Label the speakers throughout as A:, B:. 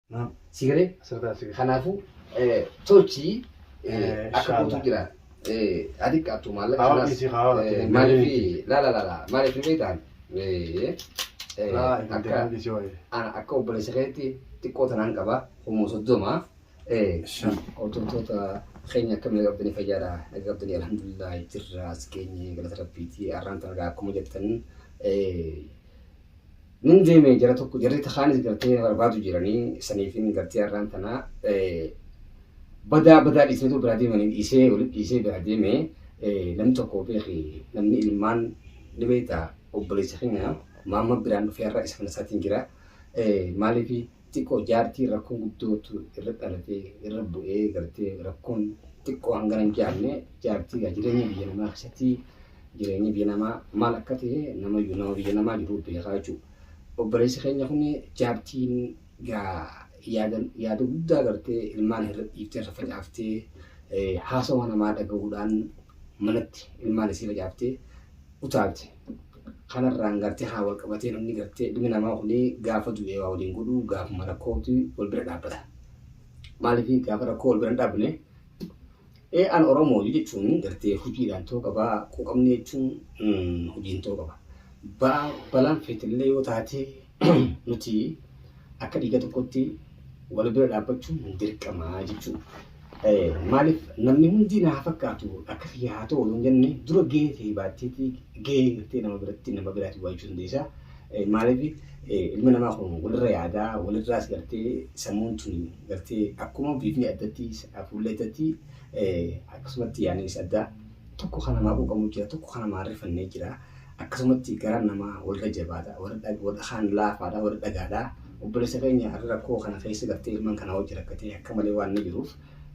A: Naam. Si galee? Asirraa si galee. Kanaafuu tolchi akka guutuu jira. Haa xiqqaattu maallaqa Hawa kanaas. dhiisii hawa irratti hin Maaliif deebiin. laala laala maaliif ni beektaan? Raa hin Akka deebiin dhiisii wayii. ana akka obboleessa keetti xiqqoo tanaan qaba humna soddoma. Shan. Hordoftoota keenya akka miidha qabdanii fayyaadha. Naga qabdanii alhamdulillah jirra as keenye galata rabbiiti. Arraan tanagaa akkuma jettan Nun deeme jara tokko jarri takaanis gartee barbaadu jiranii saniifin gartee har'aan tanaa badaa badaa dhiisnee too biraa deemanii dhiisee walitti dhiisee biraa deeme namni tokko beeki namni ilmaan ni beekta obboleessa keenya maamma biraan dhufee har'a isa kana isaatiin jira maaliif xiqo jaartii rakkoo guddootu irra dhalatee irra bu'ee gartee rakkoon xiqqoo hangana hin jaanne jaartii gaa jireenya biyya namaa keessatti jireenya biyya namaa maal akka ta'e nama iyyuu nama biyya namaa jiru beekaa jechuudha. Obboleessi keenya kun jaartiin gaa yaada yaada guddaa gartee ilmaan irra dhiiftee irra facaaftee eh, haasawa namaa dhaga'uudhaan manatti ilmaan isii facaaftee utaalte. Kanarraan gartee haa wal qabatee namni gartee ilmi namaa kun gaafa du'e waa waliin godhu gaafuma rakkootu wal bira dhaabbata. Maaliif gaafa rakkoo wal bira hin dhaabne ee an Oromoo jechuun gartee hojiidhaan ta'uu qaba quuqamni jechuun hojiin ta'uu qaba. Balaan feetillee yoo taate nuti akka dhiiga tokkotti wal bira dhaabbachuun hin dirqamaa jechuudha. Maaliif namni hundi naa fakkaatu akka kiyya haa ta'u hin jenne dura gahee ta'e baatteetii gahee gartee nama biratti nama biraatti waajjuu dandeessa. Maaliif ilma namaa kun walirra yaadaa walirraas gartee sammuun tuni gartee akkuma biifni addatti fuullee addatti akkasumatti yaaniis addaa tokko kan namaa quuqamu jira tokko kan namaa rifannee jira. Akkasumatti garaan namaa warra jabaadha, warra kaan laafaadha, warra dhagaadha. Obboleessa keenya har'a rakkoo kana keessa galtee ilmaan kanaa wajji rakkatee akka malee waan inni jiruuf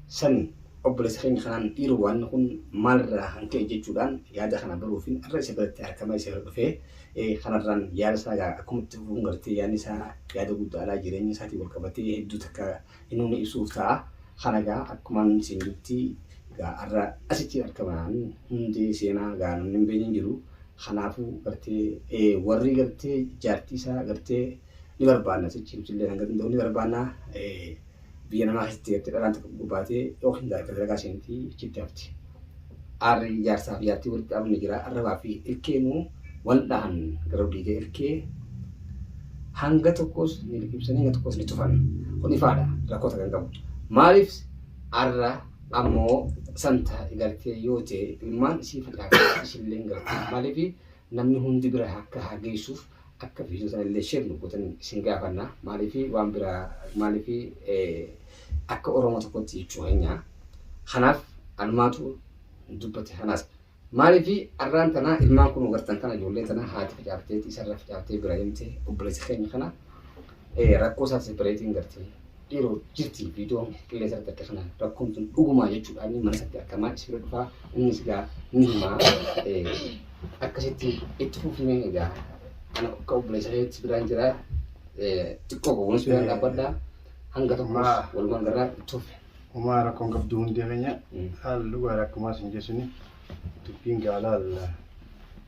A: san obboleessa keenya kanaan dhiiroo waan kun maalirraa kan ka'e jechuudhaan yaada kana baruufiin har'a isa biratti argamaa isa bira dhufee kanarraan yaada isaa akkuma itti fufuun gartee yaadni isaa yaada guddaadha jireenya isaatiin wal qabatee hedduu takka Inuni isuuf ta'a. Kana egaa akkuman siin jetti egaa har'a asitti argaman hundee seenaa egaa namni hin beekne hin jiru. Kanaafuu gartee warri gartee jaartii isaa gartee ni barbaanna sichi ibsillee kan gartee ni barbaanna biyya namaa keessatti gartee dhalaan tokko gurbaatee yookiin dalagaa seentii achitti hafti. Aarri jaarsaa fi jaartii walitti dhaabamni jira. Arrabaa fi ilkeenuu wal dhahan gara olii ga'e ilkee hanga tokkos ni liqimsanii hanga tokkos ni tufan. Kun ifaadha rakkoota kan qabu. Maaliif arra ammoo santa galtee yoo ta'e ilmaan isii facaafte isilleen galtee maaliif namni hundi bira akka hageessuuf Akka video sana illee share nu gootan isin gaafanna. Maaliif waan biraa maaliif akka Oromoo tokkotti jechuu keenya. Kanaaf anumaatu dubbate kanaas. Maaliif arraan tana ilmaan kun gartan kana ijoollee tana haati facaaftee isarra facaaftee bira himte obboleessa keenya kana rakkoo isaa separeetiin gartee Dhiiroo jirti viidiyoo qilleensa irratti akka kanaan rakkoon tun dhugumaa jechuudha inni mana isaatti argamaa isbira dhufaa innis gaa ni himaa akkasitti itti fufnee egaa ana akka obboleessa reetti biraan jira xiqqoo gowwoonis biraan dhaabbadha hanga tokkos walumaan garraa itti fufe. Umaa rakkoon qabdu
B: hundee keenya haala dhugaa rakkumaa sin jeesuni dubbiin gaalaa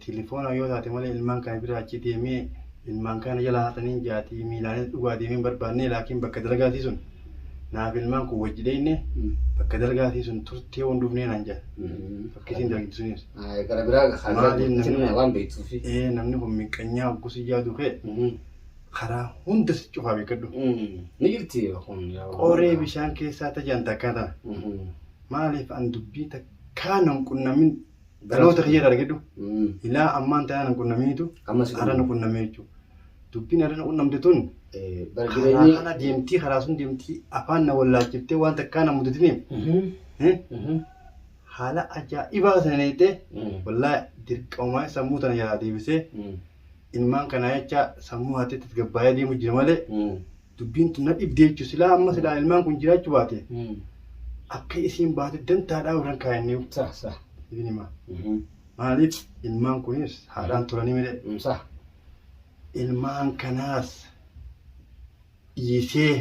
B: Tilifoona yoo taate malee ilmaan kana bira achi deemee ilmaan kana jala haataniin jaatii miilaanis dhugaa deemee hin barbaadne laakiin bakka dalagaatii sun naaf ilmaan kun wajji deemne bakka dalagaatii sun turtee waan dhufnee naan jaa fakkisiin dalagdi sunis. Gara biraa
A: Maaliin namni- kaasee waan beektuufi. Ee namni kun miqqanyaa
B: hoggusii yaadu kee karaa hunda si cufaa beekadhu. Ni jirti
A: kun. Qoree bishaan
B: keessaa tajaan takkaa tana. Maaliif an dubbii takkaa nan qunnamin Dhaloota kiyya dargidhu. Mm. Ilaa ammaan tanaa nan qunnaminitu Amma si har'a na qunname. qunnamee jechuudha. Dubbiin har'a na qunnamte tun Eh, bara karaa jireenyi. kana deemtii karaa sun deemtii afaan na wallaachiftee waan takkaa na mudatiniif Mhm, eh, mhm, haala ajaa'ibaa sana neettee mm, wallaa dirqamaa sammuu tana jalaa deebisee mm, ilmaan kanaa jecha sammuu haatee tasgabbaa'ee deemu jira malee mm. dubbiin tun na dhibdee jechuun silaa amma silaa ilmaan kun jiraachuu baate akka isiin baate dantaadhaa warran kaayannee Sah sah. ibin
A: himaa.
B: Maaliif ilmaan kunis haadhaan turanii miidhe Sah. ilmaan kanaas dhiisee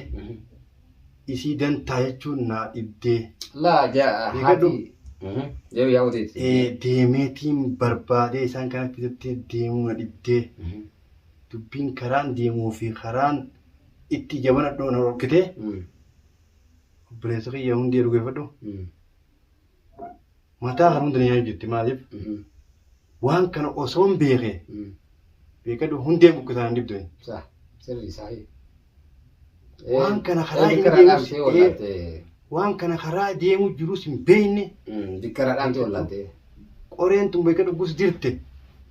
B: isii dantaa jechuun naa dhibdee Laa jaa
A: Ni haati. gadhu. Deebi yaa uteeti. Eh, deemeetiin
B: barbaadee isaan kana fidatti deemuu na dhibdee dubbiin karaan deemuu fi karaan itti ija banadhu na dhorkite obboleessa kiyya hundi jedhu geeffadhu mataa kan hundi na nyaachuu jirti maaliif waan kana osoon beeke beekadhu hundeen buqqisaan hin dhibdu. Sirrii saahii. Waan kana karaa Waan inni dikkaraa deemus, dhaamtee eh, wallaalte. waan kana karaa deemu jirus hin beekne Mm, Dikkaraa dhaamtee
A: wallaalte. qoreen tun
B: beeka dhuggus dirte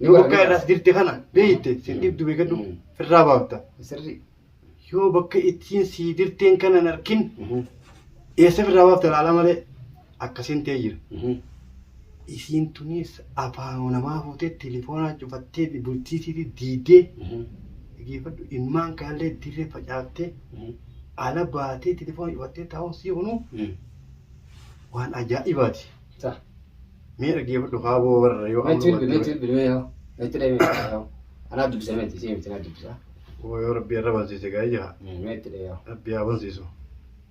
B: Ni yoo wara- bakka ni irraas wara. dirte kana beeyte sin Mm. dhibdu beeka dhug Mm. irraa baafta Sirri.
A: yoo bakka
B: ittiin sii dirteen kana hin arkin Mhm. eessa irraa baafta laala malee akkasin tee jira isiin tuniis afaanuma namaa fuutee telefoonaa cufatteeti bultii tiiti diidee dhageeffadhu ilmaan kaallee dirree facaaftee ala baatee telefoona cufattee taa'uun sii kunuu waan ajaa'ibaati. Sa. Mee dhageeffadhu kaaboo warra yoo Meetti bilbi meetti bilbi mee yoo meetti dhee meetti
A: yoo anaa dubbisa meetti isii miti naa dubbisa Woo yoo rabbi irra
B: bansiise gaa'ee jira meetti dhee yoo. rabbi
A: haa bansiisu.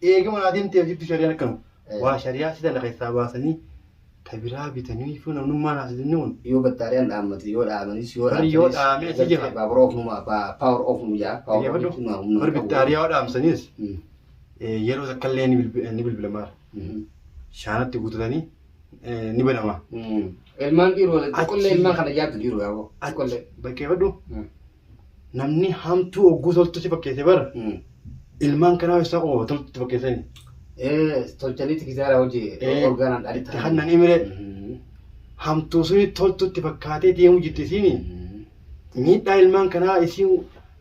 B: Eega manaa deemtee jirtu shari'aan akkanu. Waa shari'aa si tana keessaa baasanii ta biraa bitanii fi namnummaan haasisni kun. Yoo battaariyaan dhaammate
A: yoo dhaamanis yoo Warri yoo dhaamee achi jira.
B: Power off nu power off nu jaa.
A: Power off jechuun waa humna. Warri
B: battaariyaa yoo dhaamsaniis yeroo takka illee ni bilbilamaa. Shaanatti guutatanii ni banamaa. Ilmaan
A: dhiiroo xiqqollee ilmaan kana jaabdu dhiiroo yaaboo. Xiqqollee. Bakkeeffadhu.
B: namni hamtuu hogguu toltutti fakkeesse bara Hmm. ilmaan kanaa isaa qofa toltutti fakkeessani. Eh,
A: tolchaniiti kisaara hojii Eh, orgaanaan dhali itti hannan imire. Mhm.
B: Hamtuu suni toltutti fakkaatee deemu jirti isiini. Mhm. Miidhaa ilmaan kanaa isiin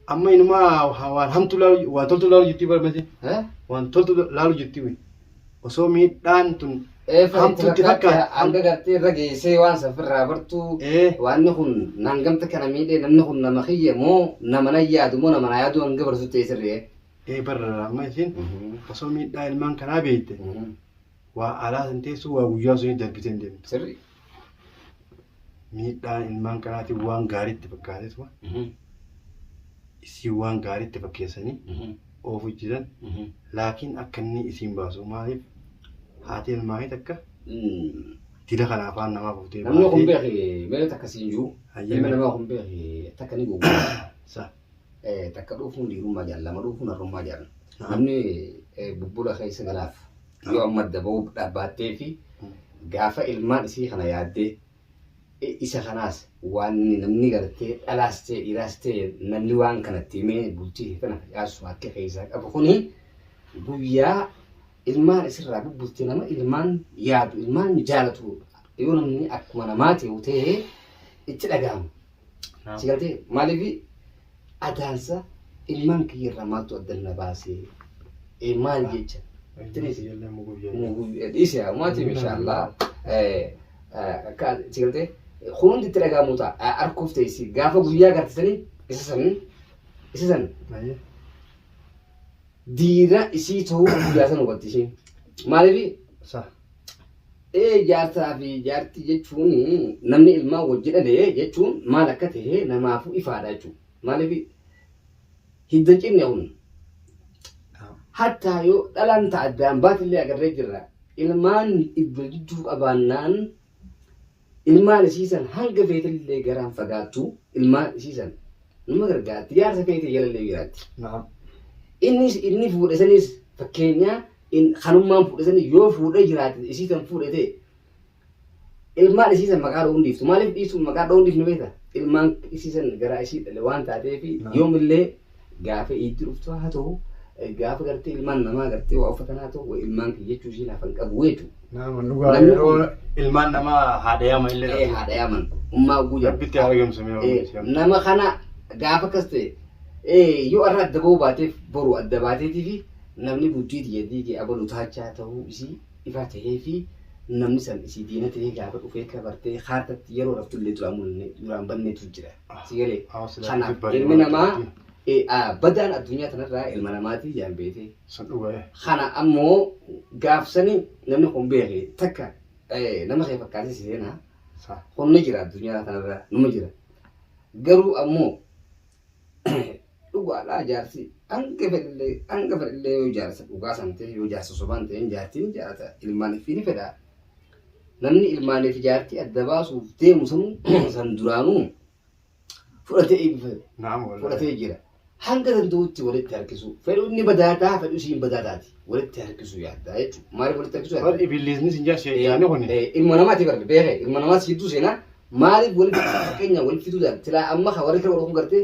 B: amma inumaa waan hamtuu laalu waan toltuu laalu jirti bara masi. Eh? Waan toltuu laalu jirti. osoo miidhaan tun Eefa itti hamtuutti fakkaate fakkaate hanga gartee irra
A: geessee waan safirraa bartuu ee waanni kun naan gamta kana miidhee namni kun nama kiyya moo nama na yaadu moo nama na yaadu hanga barsu ta'e sirri'e. ee barra amma
B: isiin osoo miidhaa ilmaan kanaa beekte waa alaa san teessuu waa guyyaa suni darbitee hin deemtu. Sirri.
A: miidhaa
B: ilmaan kanaatiin waan gaariitti fakkaateetuma isiin waan gaariitti fakkeessanii oofu jiran laakiin akka inni isiin baasu maaliif haati ilmaanii takka dila kana afaan namaa fuutee Namni kun baatee beeki
A: meeqa takka siin jiru. Hayyee. Ilma namaa kun beeki takka ni guguudha. sa Takka dhuufuun dhiirummaa jaal lama dhuufuun harrummaa jaal. Namni bubbula keessa galaaf yoo amma adda ba'uu dhaabbaattee fi gaafa ilmaan isii kana yaaddee isa kanaas waan namni gartee dhalaas ta'e dhiiraas ta'e namni waan kanatti himee bultii kee kana facaassu harki keessaa qabu kuni guyyaa ilmaan isirraa bubbutte nama ilmaan yaadu ilmaan jaalatu yoo namni akkuma namaa ta'u ta'e itti dhaga'ama. Naam. Si galtee maaliif adaarsa ilmaan kiyya irraa maaltu adda na baasee Eh, maal jecha Tiriisi. Ijoolleen muguu ijoollee. dhiise maatii inshaallah akka si galtee kun hundi itti dhaga'amu ta'a arkuuf ta'e si gaafa guyyaa gartisanii isa san isa san Maayee. diina isii ta'uu guyyaa san hubatte ishiin maaliif Sa. Ee jaarsaa fi jaartii jechuun namni ilmaan wajji dhale jechuun maal akka ta'e namaafuu ifaadha jechuudha. Maaliif hidda cinne kun hattaa yoo dhalaan ta'a addaan baatillee agarree jirra. Ilmaan iddo jidduu qabaannaan Ilmaan isii san hanga feetellee garaan fagaattu ilmaan isii san numa gargaarti jaarsa keetii jalallee jiraatti. Naam. Innis inni fuudhe sanis fakkeenyaa in kanummaan fuudhe sanis yoo fuudhe jiraate isii san fuudhe ta'e ilmaan isii san maqaa dha'uun dhiiftu maaliif dhiisu maqaa dha'uun dhiifnu beekta ilmaan isii san garaa isii dhale waan taateef Naam. yoomillee Gaafa iiddi dhuftu haa ta'u, gaafa gartee ilmaan namaa gartee waa uffatan haa ta'u, way ilmaan kiyya jechuu ishii laafan qabu jeetu. Nama
B: dhugaa Namni yeroo kun- ilmaan namaa haadha yaama illee Ee haadha yaaman. Ummaa
A: oguu jedhu. Rabbitti haa argamsiisu mee Ee,
B: Oromoo. nama kana
A: gaafa akkas ta'e ee, yoo irra adda ba'uu baateef boru adda baateetii fi namni bultii tiyya diige abalu taachaa ta'uu isii ifaa ta'ee fi namni san isii diina ta'ee gaafa dhufee kabartee haartatti yeroo raftu illee duraan mul'anne duraan banneetu jira. si galee Haa, silaa kanaaf isin baree ilmi namaa bartee. eh, ah, badaan addunyaa tanarraa ilma namaatii jaan beekee Sun dhugaa. kana ammoo gaafsanii namni kun beeke takka eh, nama kee fakkaatee si seenaa Sa. kun ni jira addunyaa kanarra numa jira garuu ammoo Dhugaadhaa jaartii hanga fedhellee hanga fedhellee yoo jaarsa dhugaa san ta'e yoo jaarsa sobaa hin ta'in jaartii ni jaalata ilmaan ifii ni fedha. Namni ilmaanii fi jaartii adda baasuuf deemu sanuu san duraanuu fudhatee eebbifate Naam wallahi. fudhatee jira. Hanga danda'utti walitti harkisuu fedhu inni badaa ta'a fedhu isiin badaa taati walitti harkisuu yaaddaa jechuudha. Maaliif walitti harkisuu Bar yaaddaa? ibillisni sin jaa
B: sheeyyaanni kuni. Eh, ilma namaati barri
A: beekee ilma namaati jidduu seenaa maaliif walitti fakkeenya walitti fiduu daal tilaa amma ka warri kira warra kun gartee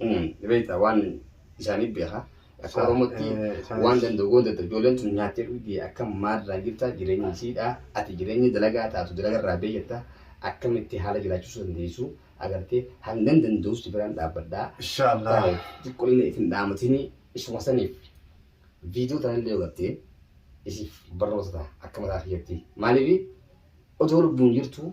A: Ni beektaa waan isaanii beekaa. Akka Oromootti waan danda'u goon dadhabu. Ijoolleen tun nyaattee dhugdii akka maalirraa jirta jireenyi isiidha. Ati jireenyi dalagaa taatu dalagarraa bee jetta. Akkamitti haala jiraachisuu dandeessu agartee hangan danda'us si biraan dhaabbadha. Inshaallah.
B: Xiqqollee isin
A: dhaamatini isuma saniif viidiyoo tanallee godhattee isiif barnoota ta'a akka mataa kiyyatti. Maaliif odoo lubbuun jirtu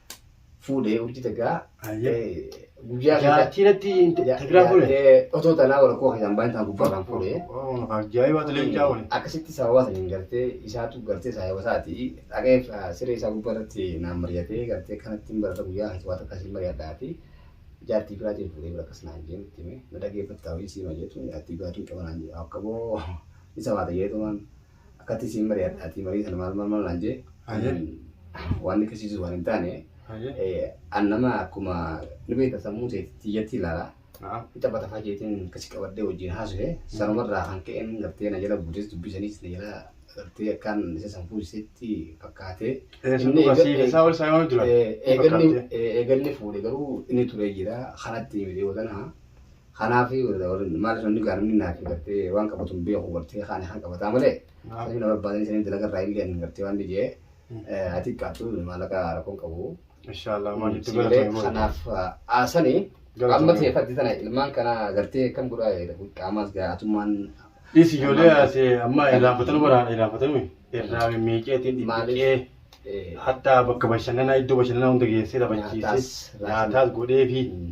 A: fuudhee urjii tagaa guyyaa Jaartii irratti
B: tagiraa fuudhe. otoo tanaa wal koo keessaan
A: baay'ee taa gubbaa kan fuudhee. Ajaa'ibaa ture
B: mucaa kun. Akkasitti sababa saniin
A: gartee isaatu gartee saayaba isaati dhaqee siree isaa gubbaa irratti naan mari'atee gartee kanatti hin barata guyyaa keessatti waan takka siin mari'adhaa fi jaartii biraatiin fuudhee bira akkas naan jee nutti hime na dhageeffattaa hojii siima jeetu jaartii biraatiin qaba naan jee akka boo isa waata jeetu waan Akkatti isiin mari'adhaatii marii sana maal maal maal naan jee Hayyee. mm, waan nikkisiisu waan hin taane Hayyee. eh, an nama akkuma ni beekta sammuu teetti tiyyatti ilaala Na'am. ni taphata faa jeetiin akkasi qabadhee wajjin haasuhe sanumarraa kan ka'een gartee na jala buutes dubbii saniis na jala gartee akkaan isa san fuusisetti fakkaatee Eh, sun inni dhugaa eega- siif isaa ol isaa yoo jira. eh, eegalli fakkaatee. eh, eegalli fuudhe garuu inni turee jira kanatti miti yoo tana Kanaaf maaliif namni gaa namni naaf gartee waan qabatu hin beeku gartee kaan kaan qabataa malee sanii na barbaadanii sanii dalaga irraa illee hin gartee waan ni jee ati qaatu maallaqa rakkoon qabu. Inshallah waan itti
B: Sibilee galatoomi booda. kanaaf aasani
A: Galatoomi. amma ta'e faddi tana ilmaan kana gartee kam godhaa qaamaas gaa atummaan Dhis ijoollee
B: ase amma irraa fatanu baraadha irraa fatanu irraa mimmiiqeetiin Maaliif? dhiphiqee eh, hatta bakka bashannanaa iddoo bashannanaa hunda geessee taphachiisee Nyaataas, nyaataas godhee fi Mm.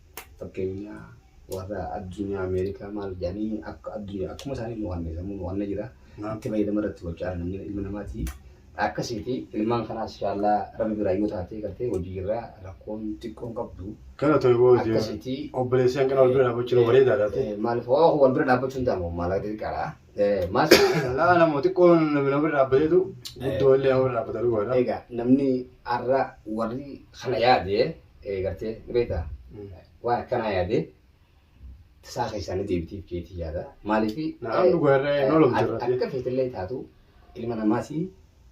A: Fakkeenyaa warra addunyaa Ameerikaa maal jedhanii akka addunyaa akkuma isaanii nu hanne sammuu nu hanne jira. Itti fayyadama irratti gochaa jira namni ilma namaati. Akkasiiti ilmaan kanaas inshaallah rabbi biraa yoo taatee gartee hojii irraa rakkoon xiqqoon qabdu. Kana ta'e boo hojii
B: Akkasiiti.
A: obboleessi
B: hanqina
A: wal bira
B: dhaabbachuun Eh,
A: bareedaa
B: dha.
A: eh,
B: Maaliif hoo
A: wal
B: bira
A: dhaabbachuun ta'a
B: moo
A: maallaqa
B: xiqqaadha.
A: Eh, Maas Laa nama
B: xiqqoon nama nama bira dhaabbateetu guddoo illee nama bira dhaabbata dhugaadha. egaa namni
A: har'a warri kana yaade Gartee beektaa waan akkanaa yaadee tasaa keessaa ni deebitiif jeetii yaada. Maaliif Na'am dhugaa irra
B: hin oolomtu irratti. akka feetillee taatu
A: ilma namaati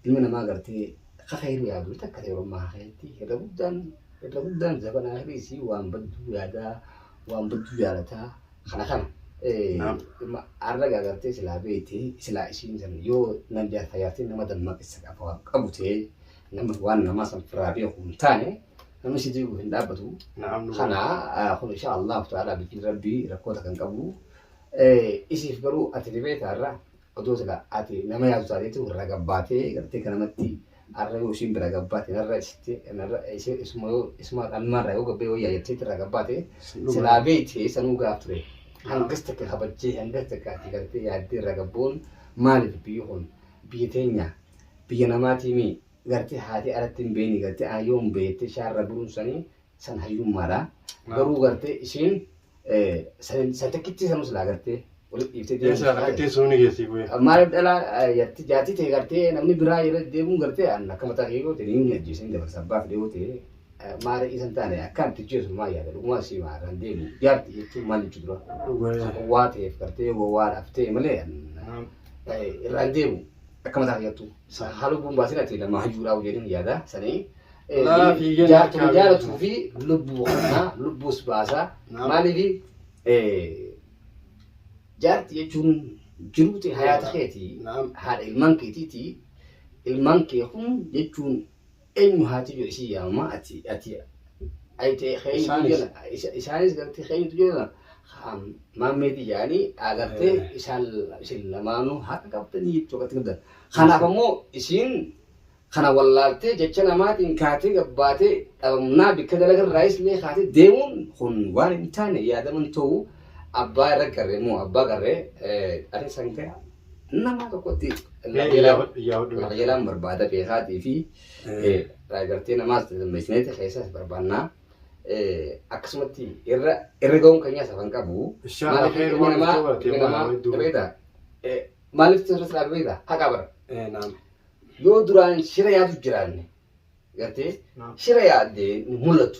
A: ilma namaa gartee kakairu yaadu takka ta'e orommaa hakeetti irra guddaan irra guddaan zabanaa hiriisi waan badduu yaadaa waan badduu jaalataa kana kana. Naam. Arragaa gartee silaa beekti silaa ishiin san yoo nan jaarta jaartiin nama dammaqessa qaba qabu ta'ee Nama waan namaa san firaa beeku hin taane namni si diigu hin dhaabbatu. Na'am nu Kana ah, kun insha Allah ta'ala bikin rabbii rakkoota kan qabu. Eh, Isiif garuu ati ribee taarra odoo sila ati nama yaadu taateetu irra gabbaatee gartee kan namatti arra yoo isiin bira gabbaate narra isitti narra isi- isuma yoo isuma qalmaarra yoo gabbee wayyaa jettee irra gabbaate Dhuguma. silaa beekte sanuu gaaf ture. Hangas takka kabajjee hangas takka ati gartee yaaddee irra gabbuun maaliif biyyi kun biyya teenya biyya namaatii mii gartee haatee aratti hin beeyne gartee aayyoon beettee shaarra buruun sanii san hayyummaadha garuu gartee ishiin san takkitti sanuu silaa gartee walitti dhiiftee deemuun Eessaa akka teessoo ni geessii bu'ee.
B: maaliif dhalaa
A: yatti jaatti ta'e gartee namni biraa irra deemuun gartee an akka mataa kee goote ni ajjeesan dabarsa abbaaf dhiyoo ta'e maara isan taane akkaan tijjeesu maa yaada dhugumaa sii maa kan deemu jaarti jechuun maal jechuu dura Dhugaa. gowwaa ta'eef gartee gowwaa dhaaf ta'e malee an irraan deemu Akka mataa kiyattu. Haa lubbuun baasin ati nama hayyuudhaa jedhin yaada sanii. Laa fi jenna Jaartuma akkaataa. jaalatuu fi lubbuu kanaa lubbuus baasaa. Naam. Maaliif jaarti jechuun jiruuti hayaata keeti. Naam. Haadha ilmaan keetiiti. Ilmaan kee kun jechuun Eenyu haa tiyyo isii yaama ati ati ayte keenyu Isaanis. jala isa- isaanis gartee keenyu jala haa maammeeti yaani agartee Eh. isaan isin lamaanuu haqa qabdanii jechuudha akkatti qabdan. Kanaaf ammoo isiin kana wallaaltee jecha namaatiin kaatee gabbaatee dhabamnaa bikka dalagarraa islee kaatee deemuun kun waan hin taane yaadaman ta'u abbaa irra garree moo abbaa garree eh, ati sangaa Nama tokkotti qajeelaan barbaada beekaatii fi gartee namaas dammeessineeti keessaas barbaannaa. Akkasumatti irra irra ga'uun keenyaas hafan qabu. Maaliif ilmi namaa ilmi namaa beektaa? Maaliif sirna siraa beektaa? Haqa bara. Yoo duraan shira yaadu jiraanne gartee shira yaaddee mul'atu.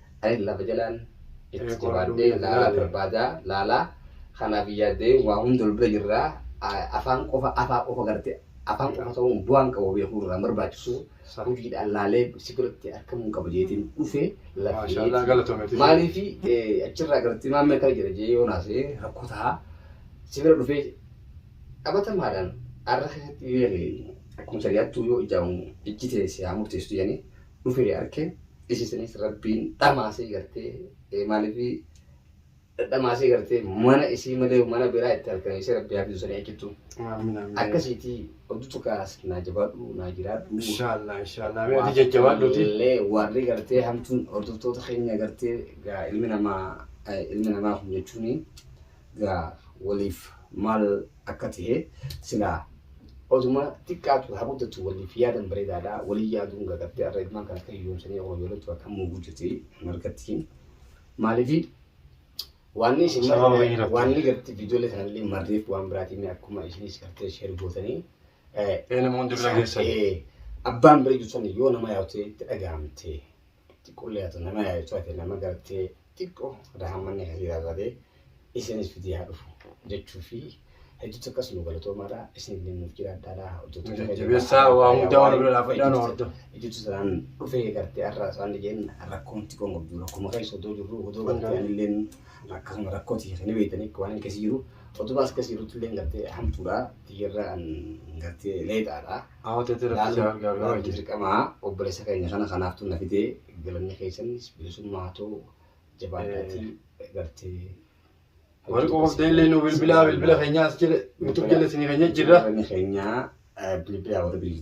A: Ayi lafa jalaan itti jabaadhee laalaa barbaadaa laalaa kanaaf yaadee waa hunda ol bira jirraa A- afaan qofa afaa qofa garte afaan qofa ta'uun bu'aan qabu beekuu irraa hin barbaachisu Sa- hojiidhaan laalee si biratti argamuun qaba jeetiin dhufe Maashaallah lafee galatoometi. maaliif eh, achirraa gartee maammee kana jedha jee yoo naasee rakkoo ta'a si bira dhufee qabatamaadhaan arra keessatti yoo jedhe akkuma shari'aattuu yoo ijaamu ijji ta'e si haa murteessitu jedhanii dhufee arke isisnis rabbiin dhamaasee gartee maalifii dhamaasee gartee mana isii malee mana biraa itti arkan isii rabbii haa fidusanii achittu Amiin amiin. akkasiitii oduu tukaas naa jabaadhu naa jiraadhu Inshallah inshallah. Mee
B: ati jajjabaadhuuti. illee warri
A: gartee hamtuun hordoftoota keenya gartee gaa ilmi namaa eh, ilmi namaa kun jechuun gaa waliif maal akka tahe silaa oduma xiqqaatu haa guddatu waliif yaadan bareedaadha walii yaaduun gagattee arra ilmaan kan akka hiyyoomsanii yeroo ijoollettu akka muuguu jirti margattiin maaliifi waanni isin Sababa marre- wayii irratti. waanni garti viidiyoolee kanallee marreef waan biraatiin akkuma isinis gartee sheer gootanii eh, Ee namoonni
B: bira geessan. eh, abbaan bira
A: jirtan yoo nama yaa'u ta'e itti dhaga'amte xiqqoo illee haa ta'u nama yaa'u taate nama gartee xiqqoo rahammanni akkasii irraa taate isinis fidee haa dhufu jechuu fi hedduutti akkas nu galatoomaadha isin illee nuuf jiraadhaadha hojjettoota keenya Jajjabeessaa irraa waa
B: hundaa wal bira dhaabadhaa nu hordofa. Ejjetu sanaan
A: dhufee gartee har'a isaan dhigeen rakkoomti kun qabdu rakkuma keessa odoo jirru odoo gartee anilleen akkasuma rakkooti kan beektanii waan hin keessa jiru otumaa as keessa jirutti illee gartee hamtuudha tiyyarra an gartee leexaadha. Ahoteetti rabbi si haa gargaaru Laaluun haji. dirqama obboleessa keenya kana kanaaftuu na fide galanni keessannis bilisummaa haa ta'u jabaadhaatii gartee
B: Warri qoqofdee illee nu bilbilaa bilbila keenya as
A: jala
B: YouTube jala isinii keenya jirra. Bilbilli keenya bilbila warra bilbila